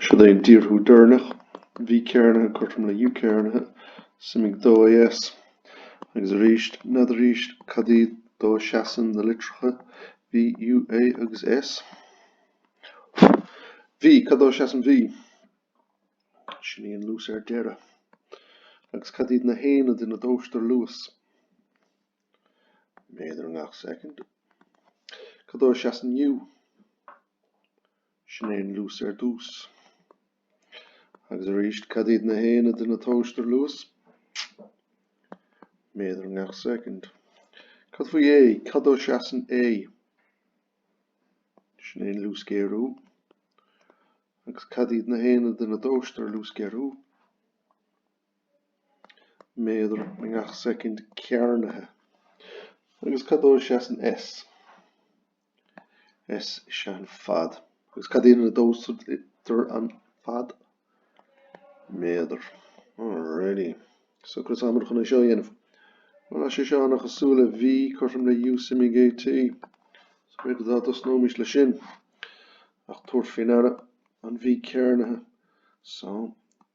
Siod é an díorthú deireanach, V cearnaithe cothrom le U cearnaithe, suimigh dó AS. Agus arís, nead arís, cad iad dó a seasann na litreacha V, U, A agus S? V, cad dó a seasann V? Sin í an luas ar deireadh. Agus cad iad na haonaid ina dtomhaistear luas? Méadar i ngach soicind. Cad dó a seasann U? Sin é an luas ar dtús. Agus arís, cad iad na haonaid ina dtógtar luas? Méadar i ngach soicind. Cad faoi A? Cad dó seasann A? Sin é an luasghéarú. Agus cad iad na haonaid ina dtomhaistear luasghéarú? méadar i ngach soicind cearnaithe. Agus cad dó a seasann S? S is ea an fad. Agus cad iad ina dtomhaistear an fad? méadar. Alrighty. So conas atáimid chun é seo a dhéanamh. Bhuel tá sé seo ana-chosúil le V, cothrom le U suimigh AT. So b'fhéidir dá dtosnóimis le sin. Ach tabhair fé ndeara an V cearnaithe. So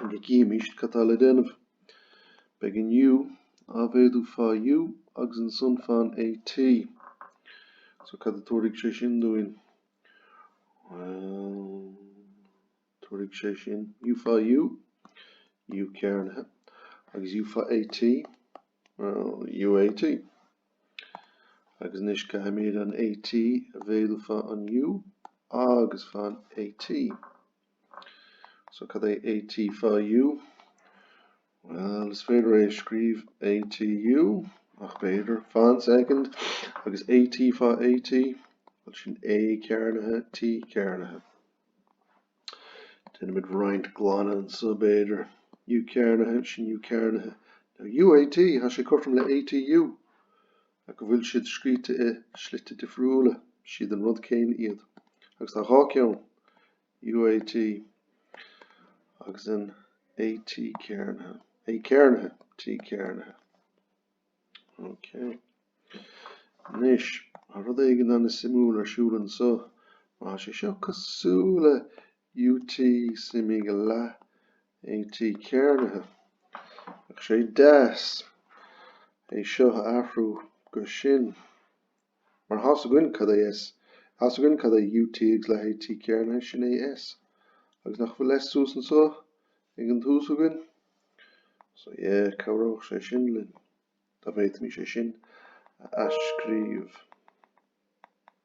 Chun go gcífimíst cad tá le déanamh. Beidh an U á mhéadú fá U agus ansan fán AT. So cad a tabharfaidh sé sin dúinn? Bhuel, tabharfaidh sé sin U fá U, U cearnaithe, agus U fá AT, well, UAT. Agus anois caithimid an AT a mhéadú fá an U agus fán AT. So cad é AT fá U? Bhuel, is féidir é a scríobh ATU, ach b'fhéidir, fan soicind, agus AT fá AT, bhuel sin A cearnaithe, T cearnaithe. Déanaimid roinnt glanadh anso, b'fhéidir. U cearnaithe, sin U cearnaithe. Now UAT, tá sé cothrom le ATU. Go bhfuil siad scríte i slite difriúla, siad an rud céanna iad agus tá dhá cheann, UAT agus an AT cearnaithe, A cearnaithe, T cearnaithe. Ok. Anois, tá rud éigin ana-shuimiúil ar siúl anso. Má tá sé seo cosúil le UT suimigh leath AT cearnaithe. Bheadh sé deas é seo a athrú go sin. Mar tá a fhios againn cad é S? Tá a fhios againn cad é UT agus leath AT cearnaithe sin é S. Agus nach bhfuil S suas anso ag an tús againn? So yeah, cabhródh sé sin linn dá bhféadfaimís é sin a athscríobh.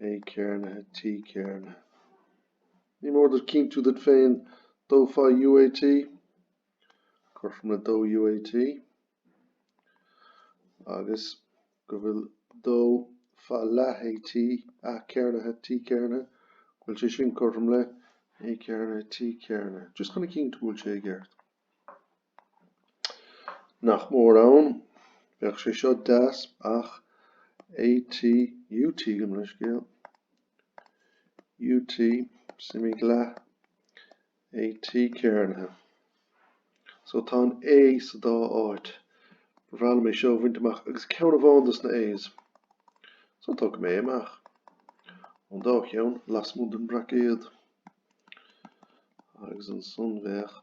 A cearnaithe, T cearnaithe. Ní mór duit cinntiú duit féin dó fá UAT cothrom le dó UAT agus go bhfuil dó fá leath AT, A cearnaithe, T cearnaithe. Go bhfuil sé sin cothrom le A cearnaithe, T cearnaithe. Just chun a chinntiú go bhfuil sé i gceart. Nach mór ann. Bheadh sé seo deas ach AT, UT gabh mo leithscéal. UT, suimigh leath. AT, cearnaithe. So tá an A sa dá áit. Ba bhreá liom é seo a bhaint amach agus ceann amháin dos na A's. So tógfaidh mé é amach ón dá cheann lasmuigh den bhraicéad. Agus ansan bheadh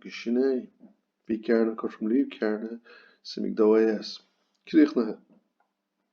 B'shin é. Bhí Cearna, Cothrom Liam Cearna, suim ag dó é as. Críochnaithe.